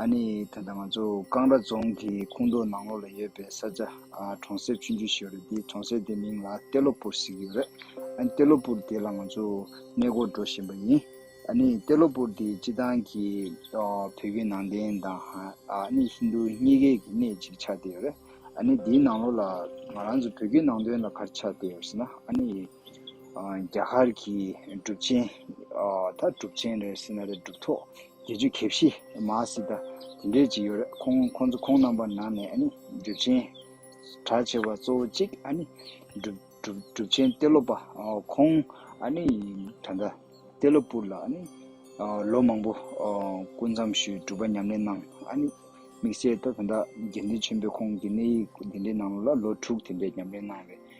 ཨ་ནི་ད་ལྟ་ང་ཚོ་ཀང་ར་རྫོང་གི་ཁུང་རྡོ་ནང་ལོགས་ལ་ཡོད་པའི་ས་ཆ་གྲོང་གསེབ་ཆུང་ཆུང་ཞིག་རེད་དེ་གྲོང་གསེབ་དེ་མིང་ལ་ཏེ་ལོ་པུར་ཟེར་གྱི་ཡོད་རེད་ཨ་ནི་ཏེ་ལོ་པུར་དེ་ལ་ང་ཚོ་གནས་སྐོར་འགྲོ་བཞིན་པ་ཡིན་ཨ་ནི་ཏེ་ལོ་པུར་དེ་སྤྱི་བཏང་གི་བོད་བརྒྱུད་ནང་བསྟན་དང་ཨ་ནི་ཧིན་རྡུ་གཉིས་ཀའི་གི་གནས་གཅིག་ཆགས་ཏེ་ཡོད་རེད་ཨ་ནི་དེའི་ནང་ལོགས་ལ་ང་རང་ཚོ་བོད་བརྒྱུད་ནང་བསྟན་ལ་གར་ཆགས་ཏེ་ཡོད་ཟེར་ན་ཨ་ནི། རྒྱ་གར་གྱི་གྲུབ་ཆེན། ད་གྲུབ་ཆེན་རེད་སྲིད་ན་རེད་གྲུབ་ཐོག་དགེ་བཅུ་གེ་བཞི་མ་སྲིད་ད་དེ་འདྲས་ཅིག་ཡོད་རེད་ཁོང་ཁོང་ཚོ་ཁོང་རྣམ་པ་ན་ནས་ཨ་ནི་གྲུབ་ཆེན་གྲགས་ཆེ་བ་གཙོ་བོ་གཅིག་ཨ་ནི་གྲུབ་གྲུབ་གྲུབ་ཆེན་གཏེ་ལོ་པ་ཁོང་ཨ་ནི་ད་ད་གཏེ་ལོ་སྤུར་ལ་ཨ་ནི་ལོ་མང་པོ་སྐུ་མཚམས་ཞུས་གྲུབ་པ་ཉམས་ལེན་གནང་ཨ་ནི་དམིགས་བསལ་ད་ད་དགེ་འདུན་ཆེན་པོས་ཁོང་གི་གནས་ཡིག་འདི་འདྲས་གནང་ལོ་ལ་ལོ་དྲུག་དེ་འདྲས་ཉམས་ལེན་གནང་བས།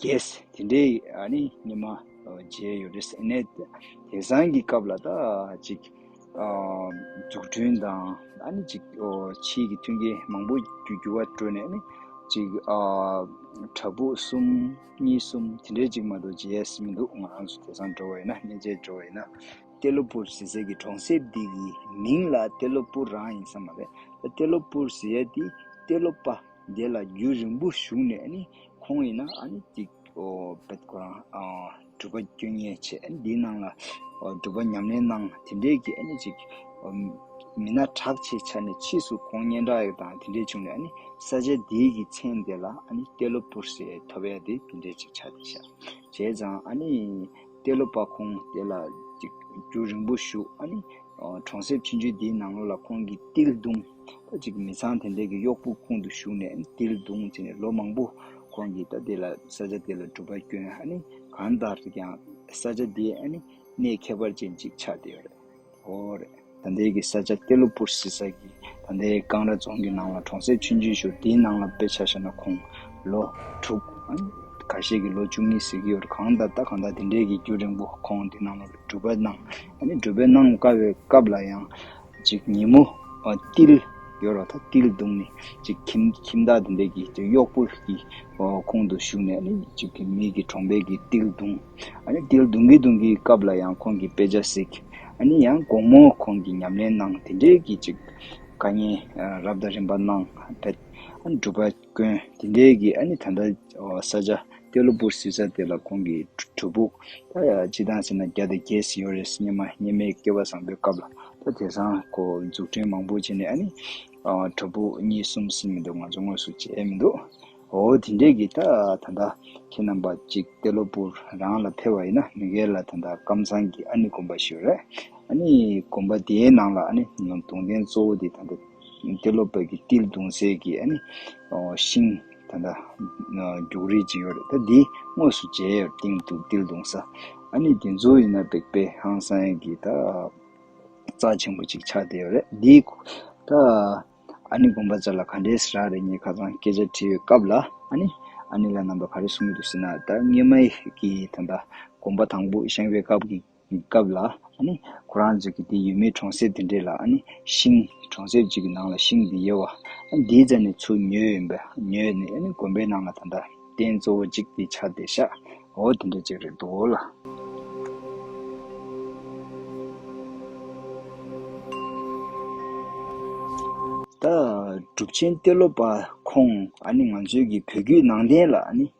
རྒྱས། དེ་འདྲའི་ཨ་ནི་ཉི་མ་བརྗེས་ཡོད་རེད། ཨེ་ནད་དེ་བཟང་གི་སྐབས་ལ་ད་ཅིག་འཛུགས་སྐྲུན་དང་ཨ་ནི་ཅིག་ཕྱིའི་གི་མཐུན་རྐྱེན་མང་པོ་རྒྱུ་རྒྱུ་བ་སྤྲོད་ནས་ཨ་ནི་ཅིག་དྲ་འབུ་གསུམ་གཉིས་གསུམ་དེ་འདྲའི་ཅིག་མ་དོ་རྗེས་མི་འདུག་ང་རང་ཚོ་དེ་སང་འགྲོ་བ་ཡིན་ན་སྨྱན་བྱད་འགྲོ་བ་ཡིན་ན་ཏེ་ལོ་པུར་ཟེ་ཟེ་གི་གྲོང་གསེབ་འདི་གི་མིང་ལ་ཏེ་ལོ་པུར་རང་ཡིན་ས་མ་རེད་ཏེ་ལོ་པུར་ཟེ་ཡ་དེ་ཏེ་ལོ་པ། དེ་ལ་རྒྱུད་རིང་པོ་བཞུགས་ནས་ནི་ཁོང་ཡིན་ན་ཨ་ནི་ཅིག། བདག་ཁོ་རང་སྒྲུབ་པ་སྐྱོན་ངན་ཆེ་འདིའི་ནང་ལ་སྒྲུབ་པ་ཉམས་ལེན་གནང་དེ་འདྲའི་གྱི་ཨ་ནི་ཅིག། མི་སྣ་གྲགས་ཆེ་ཆ་ནས་ཕྱིས་སུ་ཁོང་སྙན་གྲགས་ཡག་དང་དེ་འདྲས་བྱུང་ནས་ཨ་ནི་ས་ཆ་དེའི་གྱི་མཚན་དེ་ལ་ཨ་ནི་ཏེ་ལོ་པུར་ཞེས་ཐོ་བས་དེ་དེ་འདྲས་ཅིག་ཆགས་ཏེ་བཞག་བྱས་ཙང་ཨ་ནི་ཏེ་ལོ་པ་ཁོང་དེ་ལ་ཅིག་རྒྱུད་རིང་པོ་བཞུགས་ཨ་ནི་གྲོང་གསེབ་ཆུང་ཆུང་དེའི་ནང་ལོ་ལ་ཁོང་གི་ཏིལ་རྡུང། ད་ཅིག་མི་ཚང་དེ་འདྲས་ཀྱི་གཡོག་པོ་ཁུང་དུ་ཞུགས་ནས་འདིར་བརྡུངས་བྱས་ནས་ལོ་མང་པོ་ཁོང་གིས་ད་དེ་ལ་ས་ཆ་དེ་ལ་གྲུབ་པ་སྐྱོན་ཨ་ནི་གང་ལྟར་ཀྱང་ས་ཆ་དེ་ཨ་ནི་གནས་ཁྱད་པར་ཅན་ཅིག་ཆགས་བསྡད་རེད་ཧོ་རེད། ད་འདས་ཀྱི་ས་ཆ་སྟེ་གློ་བུར་བསིལ་ས་གི་ད་འདས་ཀང་ར་རྫོང་གི་ནང་ལ་གྲོང་གསེབ་ཆུན་ཆུན་ཞོར་དེའི་ནང་ལ་དཔེ་ཆ་ཤར་ན་ཁོང་ལོ་དྲུག་ཨ་ནི་ག་ཤས་ཀྱི་ལོ་བཅུ་གཉིས་ཟེར་གྱི་ཡོད་རེད་གང་ལྟར་ད་གང་ལྟར་དེ་འདྲས་ཀྱི་རྒྱུ་རིང་པོ་ཁོང་དེ་ནང་ལ་གྲུབ་པ་གནང་ཨ་ནི་གྲུབ་པའི་གནང་དཀའ་བའི་སྐབས་ལ་ཡང། གཅིག་ཉིན་མོ་ཏིལ་ཡོར་བ་དང་ཏིལ་བརྡུངས་ནས་གཅིག་ཁྱིམ་ཁྱིམ་བདག་དེ་འདྲས་ཀྱིས་གཡོག་པོ་གྱི་ཁོང་དུ་ཞུགས་ནས་གཅིག་མིག་གི་གྲོང་པས་ཀྱིས་ཏིལ་བརྡུངས། ཏིལ་བརྡུང་གིན་བརྡུང་གིན་སྐབས་ལ་ཡང་ཁོང་གིས་དཔེ་ཆ་གཟིགས། ཡང་དགོང་མོ་ཁོང་གིས་ཉམས་ལེན་གནང་དེ་འདྲས་ཀྱིས་གཅིག་བཀའ་ཉན་རབ་དང་རིམ་པ་གནང་བས་སྒྲུབ་པ། དཀོན། དེ་འདྲའི་གི་ཨ་ནི་ད་ལྟ་ས་ཆ་ཀེ་ལོ་པུར་ཟེར་ས་དེ་ལ་ཁོང་གི་གྲུ་ཕུག་ད་ཅི་བཏང་ཟེར་ན་རྒྱ་དེ་རྒྱས་ཟིན་ཡོད་རེད་སྙེ་མ་སྙེ་མའི་སྐྱེ་བ་བཟང་པོའི་སྐབས་ལ་ད་དེ་སང་གོ་འཛུགས་སྐྲན་མང་པོ་བྱས་ནས་ཨ་ནི་གྲུ་ཕུག་གཉིས་གསུམ་ཟིན་མི་འདུག་ང་ཚོ་དངོས་སུ་བྱས་མི་འདུག་འོ་དེ་འདྲའི་གི་ད་ད་ལྟ་ཁྱེད་རྣམ་པ་གཅིག་ཀེ་ལོ་པུར་རང་ལ་ཕེ་བ་ཡིན་ན་མི་འགལ་ལ་ད་ད་ཀམ་ཚང་གི་ཨ་ནི་དགོན་པ་ཞིག་རེད་ཨ་ནི་དགོན་པ་དེའི་ནང་ལ་ཨ་ནི་ནོ་དུང་ལྡན་གཙོ་བོ་དེ་ད་ད། དེ་སློབ་བབས་ཀྱི་ཏིལ་དུང་ཟས་ཀྱི་ཤིང། ད་ལྟ་རྒྱུགས་རིས་ཀྱི་ཡོད་རེད་ད་འདི་དངོས་སུ་མཇལ་ཡོད་ཏིང་དུང་ཏིལ་དུང་ཟ། ཨ་ནི་དེ་ཚོ་ཡིན་ན་སྦེག་པའི་ཧང་སངས་ཀྱི་ད་རྩ་ཆེན་པོ་ཅིག་ཆགས་བསྡད་ཡོད་རེད་འདི། ད་ཨ་ནི་དགོངས་པ་ཅག་ལ་ག་འདྲའི་ཟེ་རག་རེད་ངས་ཁ་ཚང་སྐད་ཆ་དྲིས་ཡོད་སྐབས་ལ་ཨ་ནི་ཨ་ནི་ལ་རྣམ་པ་ག་རེ་གསུངས་ཡོད་འདུག་ཟེར་ན་ད་སྔས་མ་ཡི་གི་ད་ད་དགོངས་པ་དང་པོ་བཞེངས་པའི་སྐབས་ཀྱི། སྐབས་ལ། ཁོ་རང་ཚོས་ཀྱི་དེ་ཡོད་མེད་གྲོང་གསེབ་དེ་འདྲས་ལ། ཤིང། གྲོང་གསེབ་ཅིག་གི་ནང་ལ་ཤིང་འདི་ཡོད། འདིའི་རྩ་ནས་ཆུ་ཉོས་ཡོད། ཉོས་ནས་དགོན་པའི་ནང་ལ་ད་ལྟ། རྟེན་གཙོ་བོ་གཅིག་དེ་ཆ་དེ་ཤ། འོ་དེ་འདྲ་ཅིག་རེད་འདུག་ལ། ད། གྲུབ་ཆེན་གཏེར་ལོ་པ་ཁོང། ང་ཚོའི་ཀྱི་བོད་བརྒྱུད་ནང་བསྟན་ལ།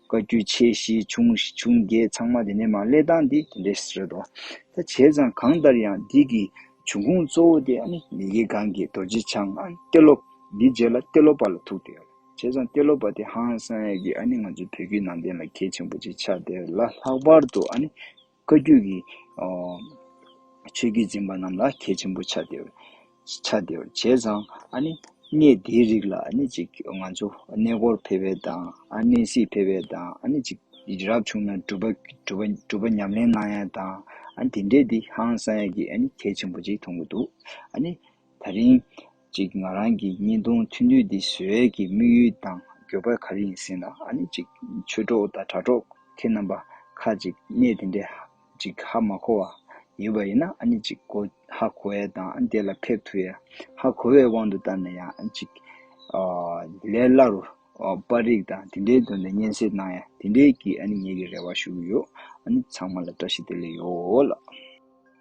བཀའ་བརྒྱུད་ཆེ་བཞི་ཆུང་ཆུང་བརྒྱད་ཚང་མ་དེ་ནས་མ་གླེ་སྟངས་དེ་དེ་འདྲས་རེད་དོ། ད་བྱས་ཙང་གང་ལྟར་ཡང་འདི་གི་བྱུང་ཁུངས་གཙོ་བོ་དེ་ནི་ཡི་གེ་གང་གི་རྡོ་རྗེ་འཆང་གཏེར་སློབ་འདི་རྗེས་ལ་གཏེར་སློབ་པ་ལ་ཐུག་སྟེ། བྱས་ཙང་གཏེར་སློབ་པ་དེ་ཧང་སངས་ཡས་ཀྱིས་ང་ཚོའི་བོད་བརྒྱུད་ནང་བསྟན་ལ་གལ་ཆེན་པོ་ཅིག་ཆགས་དེ་ལ་ལྷག་པར་དུ་བཀའ་བརྒྱུད་ཀྱི་ཆོས་བརྒྱུད་འཛིན་པ་རྣམས་ལ་གལ་ཆེན་པོ་ཆགས་ཏེ། ཆགས་ཏེ། བྱས་ཙང་ཨ་ནི་གནས་དེའི་རིགས་ལ་ཨ་ནི་ཅིག་ང་ཚོ་གནས་སྐོར་ཕེབས་པའི་དང་ཨ་ནི་གནས་གཟིགས་ཕེབས་པའི་དང་ཨ་ནི་ཅིག་རབ་བྱུང་ན་སྒྲུབ་པ་ཉམས་ལེན་གནང་ཡ་དང་ཨ་ནི་དེ་འདྲས་འདི་ཧང་སང་ཡ་གི་ཨ་ནི་གལ་ཆེན་པོ་ཅིག་མཐོང་གི་འདུག་ཨ་ནི་ད་རིང། ཅིག་ང་རང་གི་བརྙན་ཐུང་ཐུང་དུས་འདི་བཟོ་ཡས་ཀྱི་དམིགས་ཡུལ་དང་འགྱོད་པ་ག་རེ་ཡིན་ཟེར་ན་ཨ་ནི་ཅིག་ཆོས་གྲོགས་དང་དྲ་གྲོགས་ཁྱེད་རྣམ་པ་ཁ་ཅིག་གནས་དེ་འདྲའི་ཅིག་ཧ་མ་གོ་བ་ཡོད་པ་ཡིན་ན་ཨ་ནི་ཅིག་གོ་ཧ་གོ་བས་དང་དེ་ལ་ཕེབས་ཐུ་ཡས་ཧ་གོ་བའི་དབང་དུ་བཏང་ནས་ཡང་ཅིག་ལས་སླ་རུ་པར་རིགས་དང་དེ་འདྲའི་དོན་དུ་བརྙན་གསེར་གནང་ཡས་དེ་འདྲའི་གྱི་ཨ་ནི་ངེད་ཀྱི་རེ་བ་ཞུ་གི་ཡོད་ཨ་ནི་ཚང་མ་ལ་བཀྲ་ཤིས་བདེ་ལེགས་ཡོད་ལགས།